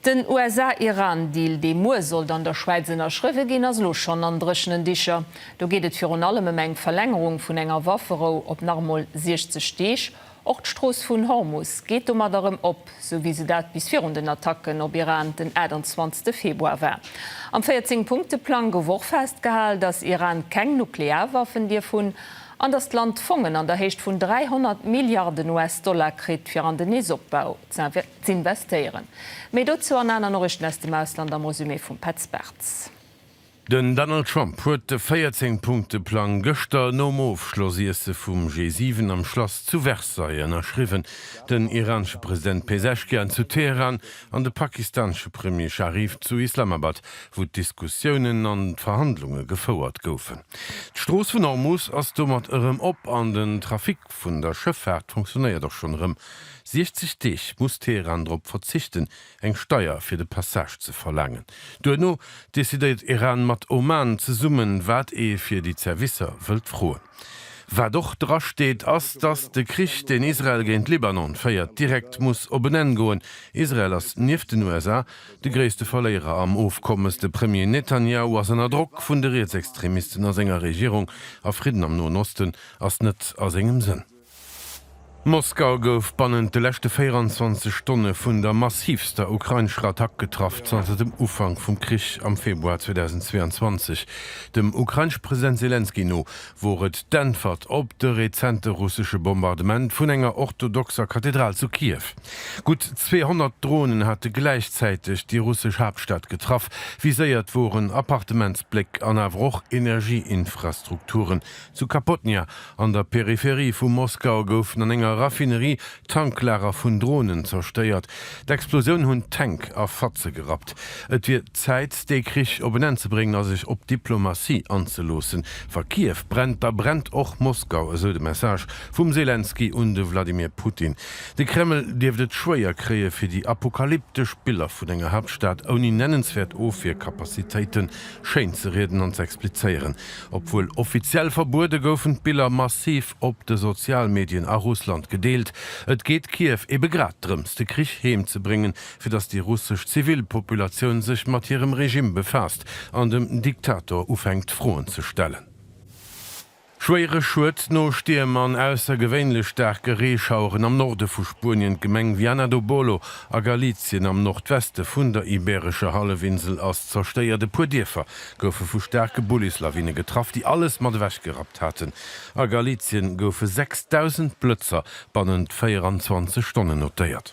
Den USA-Iran-Deal, dee muer sollt an der Schwäiz ënnerschriwwe ginn, ass elo schonn an dréchenen Dicher. Do geet et virun allem ëm eng Verlängerung vun enger Wafferou op nach emol 60 Deeg. Och d'Strooss vun Hormus geet domat erëm op, sou wéi se dat bis virun den Attacken op Iran den 28 Februar war. Am 14 Punkte-Plang gouf och festgehal, datt Iran keng Nuklearwaffen dierf hunn an datt d'Land Fongen an der Héicht vun 300 Milliarden US-Dollar kritt, fir an den nees Opbau Z'investéieren. Méi dozou an aner Norichten aus dem Ausland am Resumé vum Petz Bartz. Den Donald Trump huet de 14 Punkte-Plang gëschter nom Ofschlossiesse vum G7 am Schlass zu Versailles ënnerschriwwen. Den iranesche President Pezeshkian zu Teheran an de pakistanesche Premier Sharif zu Islamabad, wou d'Diskussiounen an d'Verhandlunge gefouert goufen. D'Strooss vun Hormus ass domat erëm op an den Trafic vun der Schëffaart funktionéiert och schonn erëm. 60 Deeg muss Teheran drop verzichten, eng Steier fir de Passage ze verlaangen. Duerno decidéiert Iran mat Oman zesummen, wat ee fir déi Zerwisser wëllt froen. Wat och dra steet, ass, datt de Krich, deen Israel géint Libanon féiert, direkt muss op en Enn goen. Israel ass nieft den USA de gréisste Verléierer am Ofkommes. De Premier Netanjahu ass ënner Drock vun de Rietsextremisten a senger Regierung, a Fridden am Noen Osten ass net a sengem Sënn. Moskau gouf bannent de leschte 24 Stonne vun der massivster ukrainescher Attack getraff zanter dem Ufank vum Krich am Februar 2022. Dem ukrainesche President Selenskyj no wor et d'Äntwert op de rezente russesche Bombardement vun enger orthodoxer Kathedral zu Kiew. Gutt 200 Dronen hate gläichzäiteg déi russesch Haaptstad getraff. Viséiert woren Appartementsbléck an awer och Energieinfrastrukturen, Zu Kapotnja, an der Peripherie vu Moskau, goufen an enger Raffinerie Tanklager vun Dronen zerstéiert. D'Explosioun hunn d'Tänk a Fatze gerappt. Et wier Zäit, dee Krich op en Enn ze bréngen a sech op Diplomatie anzeloossen. Wa Kiew brennt, da brennt och Moskau, esou de Message vum Selenskyj un de Wladimir Putin. De Kreml dierft et schwéier kréie fir déi apokalyptesch Biller vun enger Haaptstad ouni nennenswäert Ofwierkapazitéite schéinzerieden an z'explizéieren. Obwuel offiziell verbuede goufen d'Biller massiv op de Sozialmedien a Russland gedeelt. Et geet Kiew ebe grad drëms, de Krich heem ze bréngen, fir datt déi russesch Zivilpopulatioun sech mat hirem Regime befaasst an dem Diktator ufänkt Froen ze stellen. Schwéiere Schued no Stierm an aussergewéinlech staarke Reeschaueren am Norde vu Spuenien, D'Gemeng Viana do Bolo a Galizien am Nordweste vun der Ibeerescher Hallefinsel ass zerstéiert, e puer Dierfer goufe vu staarke Bullislawine getraff, déi alles mat ewech gerappt haten. A Galizien goufe 6.000 Blëtzer bannent 24 Stonnen notéiert.